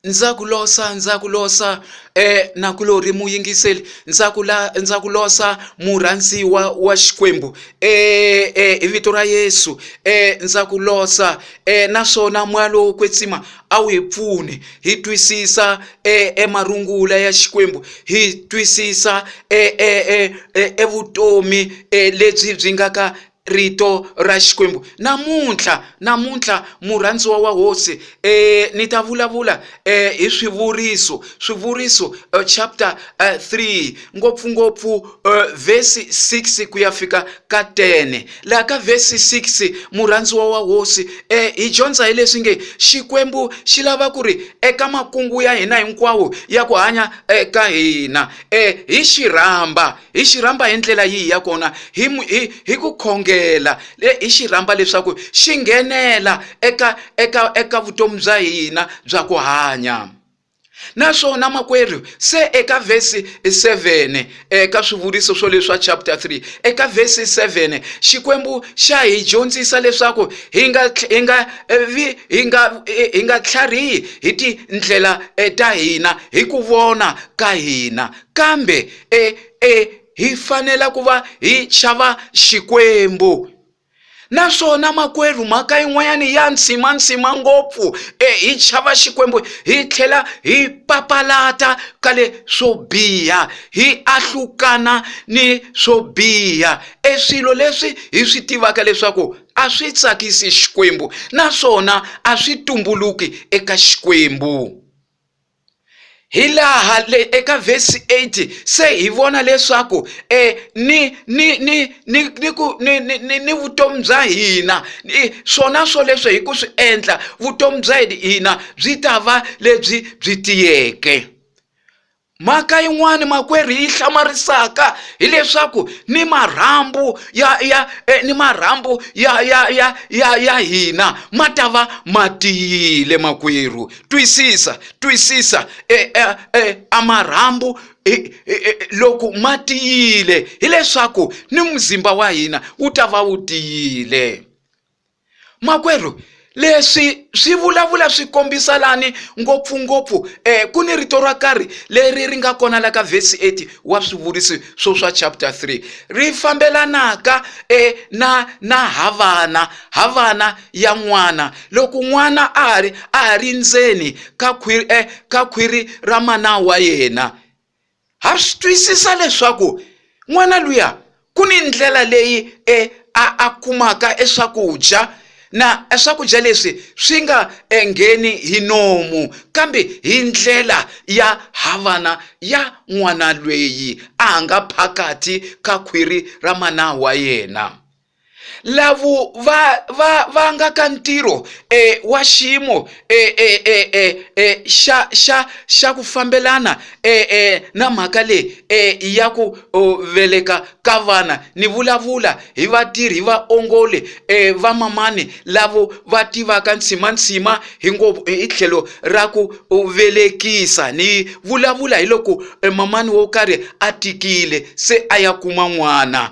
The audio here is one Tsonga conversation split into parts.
ndza ku losa ndza ku losa nakulorhi muyingiseli ndza ku la ndza ku losa murhandziwa wa Xikwembu hi vito ra Yesu ndza ku losa naswona moya lowo kwetsima a wu hi pfuni hi twisisa emarungula ya Xikwembu hi twisisa evutomi lebyi byi nga ka rito ra Xikwembu. Namuntlha, namuntlha, murhandziwa wa Hosi, eh, ni ta vulavula eh, hi swivuriso, swivuriso eh, chapter eh, 3 ngopfungopfu eh, vhesi 6 ku ya fika ka 10. Laha ka vhesi 6 murhandziwa wa Hosi eh, hi dyondza hi leswi nge Xikwembu xi lava ku ri eka makungu ya hina hinkwawo ya ku hanya eh, ka hina eh, hi xi rhamba hi xi rhamba hi ndlela yihi ya kona hi hi hi ku khongela hi xi rhamba leswaku xi nghenela eka eka eka vutomi bya hina bya ku hanya naswona makwerhu se eka vhesi 7 eka swivuriso swo leswa chapter 3 eka vhesi 7 xikwembu xa hi dyondzisa leswaku hi nga hi nga hi nga hi nga tlharihi hi tindlela eh, ta hina hi ku vona ka hina Kambe e, e, hi fanela ku va hi xava Xikwembu. Naswona makwerhu, mhaka yin'wanyana ya nsimansima ngopfu, e, hi xava Xikwembu hi tlhela hi papalata ka le swo biha, hi ahlukana ni swo biha, e swilo leswi hi swi tivaka leswaku a swi tsakisi Xikwembu naswona a swi tumbuluki eka Xikwembu. hi laha le eka vhesi 8 se hi vona leswaku um ni ni ni ni ni ku ni ni ni ni vutomi bya hina swona swoleswo hi ku swi endla vutomi bya hina byi ta va lebyi byi tiyeke mhaka yin'wani makwerhu yi hlamarisaka hileswaku ni marhambu ya ya eh, ni marhambu ya ya ya ya ya hina ma ta va ma tiyile makwerhu twisisa twisisa e, e, e, a marhambu e, e, e, loko ma tiyile hileswaku ni muzimba wa hina wu ta va wu tiyile makwerhu leswi swi vulavula swi kombisa lani ngopfungopfu eh, ku ni rito ra karhi leri ri nga kona la ka vhesi 8 wa swivuriso swo swa chapter 3 ri fambelanaka eh, na na havana havana ya n'wana loko n'wana a ri a ha ri ndzeni ka khwiri eh, ka khwiri ra mana wa yena ha swi twisisa leswaku n'wana luya ku ni ndlela leyi e a a kumaka eswakudya na swakudya leswi swi nga engheni hi nomu kambe hi ndlela ya havana ya n'wana lweyi a nga phakathi ka khwiri ra mana wa yena lavo va va va nga ka ntirho e wa xiyimo e e e e e xa xa xa ku fambelana e e na mhaka leyi e ya ku veleka ka vana ni vulavula hi vatirhi vaongoli e vamamani lavo va tivaka ntshimantsima hi ngo hi tlhelo ra ku velekisa ni vulavula hi loko e mamani wo karhi a tikile se a ya kuma n'wana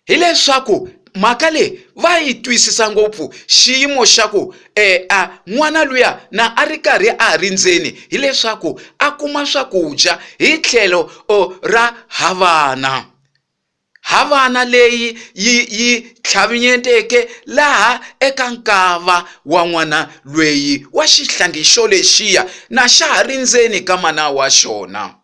hileswaku mhaka leyi va yi twisisa ngopfu xiyimo xa ku e a n'wana luya na a ri karhi a ha ri ndzeni hileswaku a kuma swakudya hi tlhelo ra havana havana leyi yi yi tlhavinyeteke laha eka nkava wa n'wana lweyi wa xihlangi xo lexiya na xa ha ri ndzeni ka mana wa xona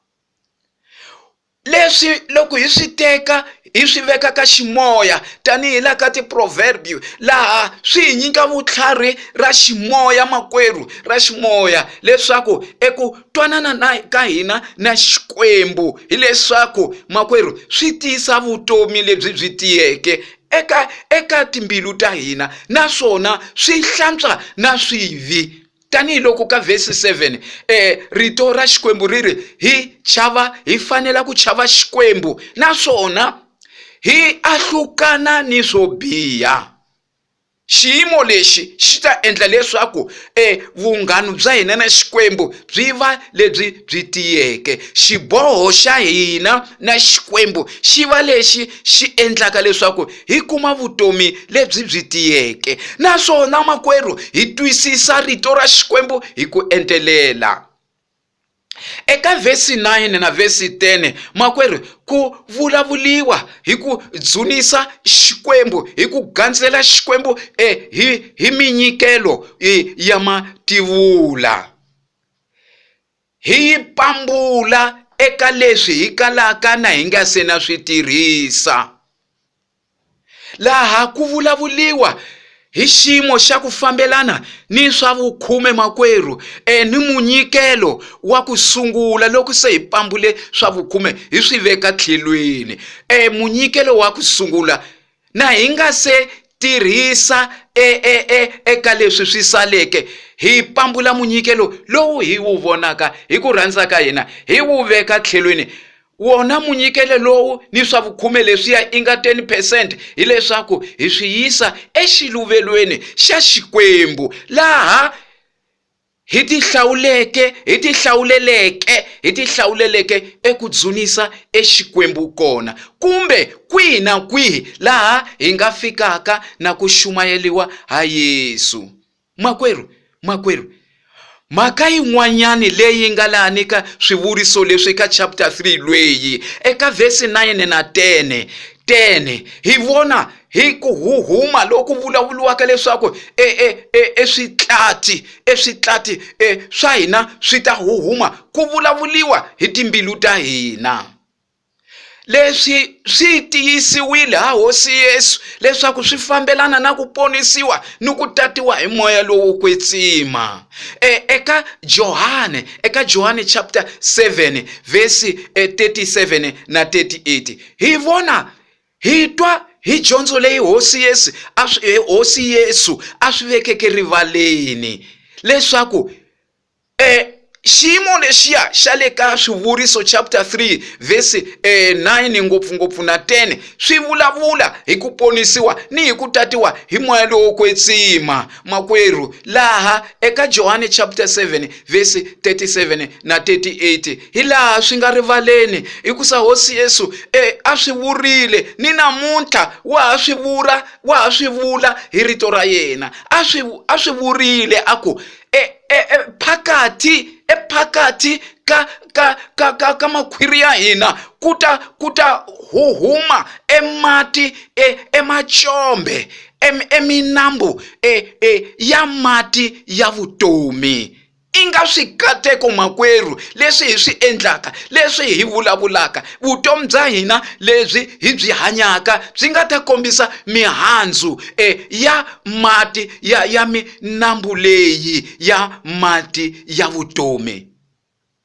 leswi loko hi swi teka hi swi veka ka ximoya tanihi la ka tiproverbio laha swi hi nyika vutlhari ra ximoya makwerhu ra ximoya leswaku eku twanana na ka hina na xikwembu hileswaku makwerhu swi tiyisa vutomi lebyi byi tiyeke eka eka timbilu ta hina naswona swi hlantswa na swivi. tanihi loko ka vhesi 7 eh, rito ra xikwembu ri ri hi chava hi fanela ku chava xikwembu naswona hi ahlukana ni swo biha xiyimo lexi xi ta endla leswaku e vunghanu bya hina na xikwembu byi va lebyi byi tiyeke xiboho xa hina na xikwembu xi va lexi xi endlaka leswaku hi kuma vutomi lebyi byi tiyeke naswona makwerhu hi twisisa rito ra xikwembu hi ku entelela eka vhesi 9 na vhesi 10 makwerhu ku vulavuliwa hi ku dzunisa xikwembu hi ku gandzela xikwembu eh, hi, hi minyikelo eh, ya mativula Hi yi pambula eka leswi hi kalaka na hi nga se na swi tirhisa. Laha ku vulavuliwa hi xiyimo xa ku fambelana ni swa vukhume makwerhu e ni munyikelo wa ku sungula loko se hi pambule swa vukhume hi swi veka tlhelweni e munyikelo wa ku sungula Na hi nga se tirhisa e, e, e, eka leswi swi saleke, hi pambula munyikelo lowu hi wu vonaka hi ku rhandza ka hina, hi wu veka tlhelweni. Wona munyikelo lowu ni swa vukhume leswiya inga 10 percent hileswaku hi swi yisa exiluvelweni xa Xikwembu, laha hi ti hlawuleke hi ti hlawuleleke hi ti hlawuleleke eku dzunisa exikwembu kona kumbe kwihi na kwihi laha hi nga fikaka na ku xumayeliwa ha Yesu makwerhu makwerhu mhaka yin'wanyani leyi nga laha ni ka swivuriso leswi ka chapter 3 lweyi eka vhesi 9 na 10 10 hi vona hi ku huhuma loku vulavuriwaka leswaku e, e, e, eswitlati eswitlati e, swa hina swi ta huhuma ku vulavuriwa hi timbilu ta hina leswi swi tiyisiwile ha hosi yesu leswaku swi fambelana na ku ponisiwa ni ku tatiwa hi moya lowo kwetsima e, eka johane eka johane chapter 7 vhesi 37 e, na 38 hi vona Hi twa hi dyondzo leyi hosi Yesu a swi eh, hosi Yesu a swi vekeke rivaleni leswaku eh xiyimo lexiya xa le ka swivuriso chapter 3 verse eh, 9 ngopfungopfu na 10 swi vulavula hi ku ponisiwa ni hi ku tatiwa hi moya lowo kwetsima makwerhu laha eka johane chapter 7 verse 37 na 38 hi laha swi nga rivaleni hi ku sa hosi yesu e a swi vurile ni namuntlha wa ha swi vula wa ha swi vula hi rito ra yena a swi a swi vurile a ku e, e, e phakathi ephakathi ka ka ka ka ka makhwiri ya hina ku ta ku ta huhuma emati e, emacombe eminambu e, e, ya mati ya vutomi I nga swikateko makwerhu leswi hi swi endlaka leswi hi vulavulaka vutomi bya hina lebyi hi byi hanyaka byi nga ta kombisa mihandzu e ya mati ya ya minambu leyi ya mati ya vutomi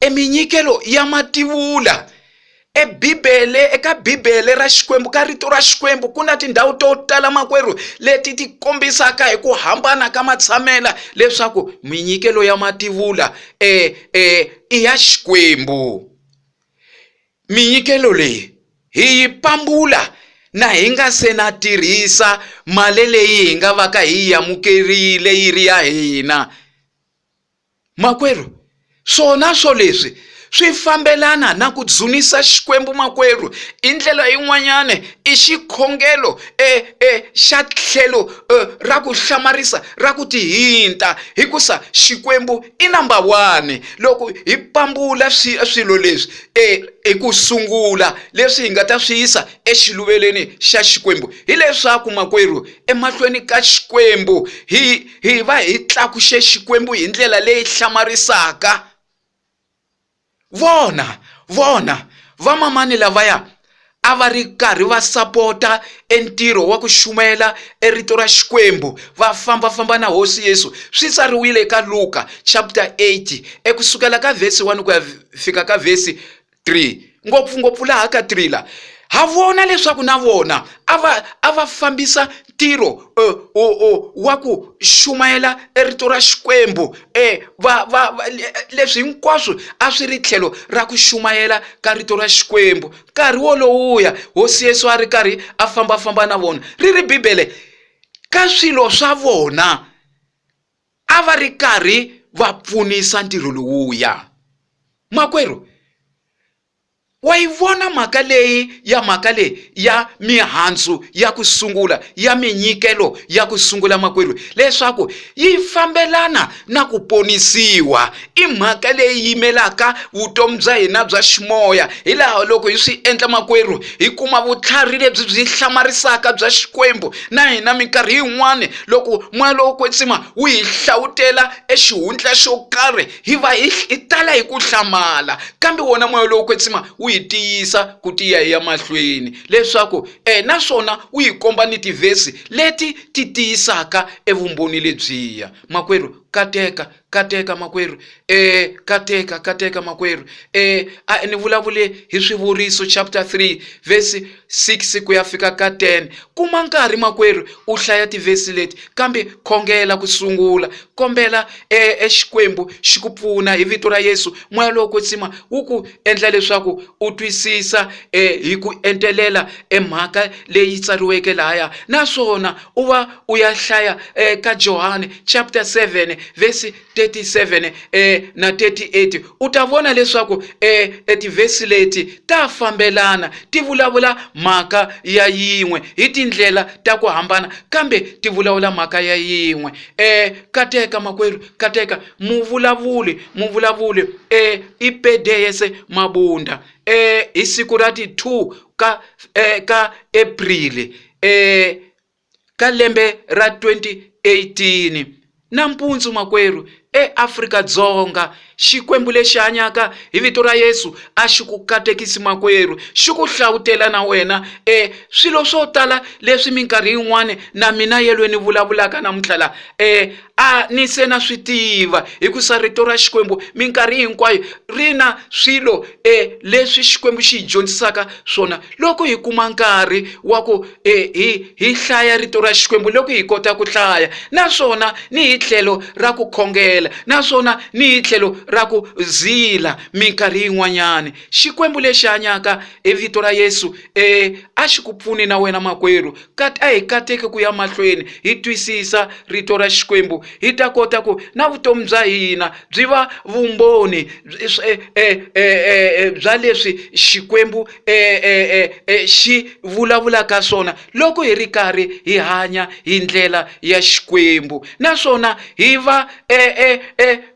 E minyikelo ya mativula. E Bibele, eka Bibele ra Xikwembu, ka rito ra Xikwembu, ku na tindhawu to tala makwerhu leti ti kombisaka hi ku hambana ka matshamela leswaku minyikelo ya mativula e, e, i ya Xikwembu. Minyikelo leyi hi yi pambula na hi nga se na tirhisa mali leyi hi nga vaka hi yi amukerile yi ri ya hina. Makwerhu, swona swo leswi swi fambelana na ku dzunisa Xikwembu makwerhu. Hi ndlela yin'wanyana i xikhongelo e, e, xa tlhelo e, ra ku hlamarisa ra ku tihinta, hikusa Xikwembu i namba one. Loko hi pambula swi, swilo leswi e, hi ku sungula leswi hi nga ta swi yisa exiluvelweni xa Xikwembu, hileswaku makwerhu, emahlweni ka Xikwembu hi hi va hi tlakuxe xikwembu hi ndlela leyi hlamarisaka vona vona vamamani lavaya a va ri karhi va sapota entirho wa ku shumela erito ra xikwembu va fambafamba na hosi yesu swi tsariwile eka luka chapter 8 ekusukela ka vhesi 1 ku ya fika ka vhesi 3 ngopfungopfu laha ka 3 la ha vona leswaku na vona a va a va fambisa ntirho uh, wa ku xumayela rito ra xikwembu um va, va, va, leswi hinkwaswo a swi ri tlhelo ra ku xumayela ka rito ra xikwembu nkarhi wolowuya hosi yesu a ri karhi a fambafamba na vona ri ri bibele ka swilo swa vona a va ri karhi va pfunisa ntirho lowuya makwerhu wa yi vona mhaka leyi ya mhaka leyi ya mihandzu ya ku sungula ya minyikelo ya ku sungula makwerhu leswaku yi fambelana na ku ponisiwa i mhaka leyi yimelaka vutomi bya hina bya ximoya hi laha loko hi swi endla makwerhu hi kuma vutlhari lebyi byi hlamarisaka bya xikwembu na hina minkarhi yin'wani loko moya lowo kwetsima wu hi hlawutela exihundla xo karhi hi va hi hi tala hi ku hlamala kambe wona moya lowo kwetsima wu hi tiyisa ku tiya hi ya mahlweni leswaku um naswona wu yi komba ni tivhesi leti ti tiyisaka evumbhoni lebyiya makwerhu kateka Kateka makwerhu, e, kateka, kateka makwerhu, e, a ni vulavule hi Swivuriso chapter 3 verse 6 ku ya fika ka 10. Kuma nkarhi makwerhu u hlaya tivhesi leti, kambe khongela ku sungula. Kombela e, e Xikwembu xi ku pfuna hi vito ra Yesu. Moya lowo kwetsima wu ku endla leswaku u twisisa e, hi ku entelela e mhaka leyi tsariweke lahaya, naswona. u va u ya hlaya eh, ka johane chapter 7 vesi 37 eh, na 38 u ta vona leswaku eh, eh, tivhesi leti ta fambelana ti vulavula mhaka ya yin'we hi tindlela ta ku hambana kambe ti vulavula mhaka ya yin'we eh, kateka makwerhu kateka muvulavuli muvulavuli eh, i pedeyese mabunda eh, hi siku ra ti 2 ka, eh, ka aprili eka lembe ra 2018. Nampundzu makwerhu, eAfrika Dzonga, Xikwembu lexi hanyaka hi vito ra Yesu a xi ku katekisi makwerhu, xi ku hlavutela na wena e swilo swo tala leswi minkarhi yin'wana na mina yelwe ni vulavulaka namuntlha laha. a ni se na swi tiva hi ku sa rito ra xikwembu minkarhi hinkwayo ri na swilo um leswi xikwembu xi hi dyondzisaka swona loko hi kuma nkarhi wa ku um hi hi hlaya rito ra xikwembu loko hi kota ku hlaya naswona ni hi tlhelo ra ku khongela naswona ni hi tlhelo ra ku zila minkarhi yin'wanyani xikwembu lexi hanyaka hi vito ra yesu um a xi ku pfuni na wena makwerhu Kat a hi kateki ku ya mahlweni hi twisisa Rito ra Xikwembu, hi ta kota ku na vutomi bya hina byi va vumbhoni bya leswi Xikwembu xi vulavulaka swona loko hi ri karhi hi hanya hi ndlela ya Xikwembu naswona hi va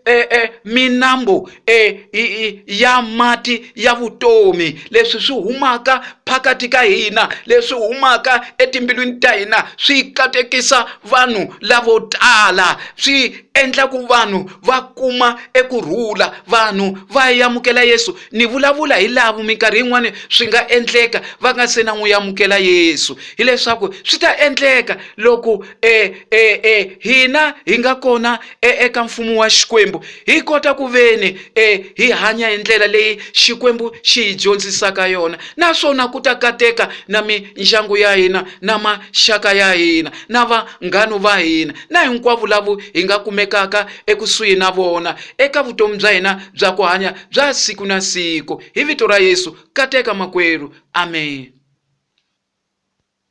e, e, minambu e, i, i, ya mati ya vutomi leswi swi humaka phakati ka hina leswi humaka etimbilwini ta hina swi katekisa vanhu lavo tala swi endla ku vanhu va kuma eku rhula vanhu va yamukela yesu ni vulavula hi lavo minkarhi yin'wani swi nga endleka va nga se na n'wi yamukela yesu hileswaku swi ta endleka loko e, e, e, hina hi nga kona e, eka mfumo wa xikwembu hi kota ku veni e, hi hanya hi ndlela leyi xikwembu xi hi dyondzisaka yona naswona ku ta kateka na mindyangu ya hina na maxaka ya hina na vanghanu va hina na hinkwavo lavo hi nga kumekaka ekusuhi na vona eka vutomi bya hina bya ku hanya bya siku na siku hi vito ra yesu kateka makwerhu amen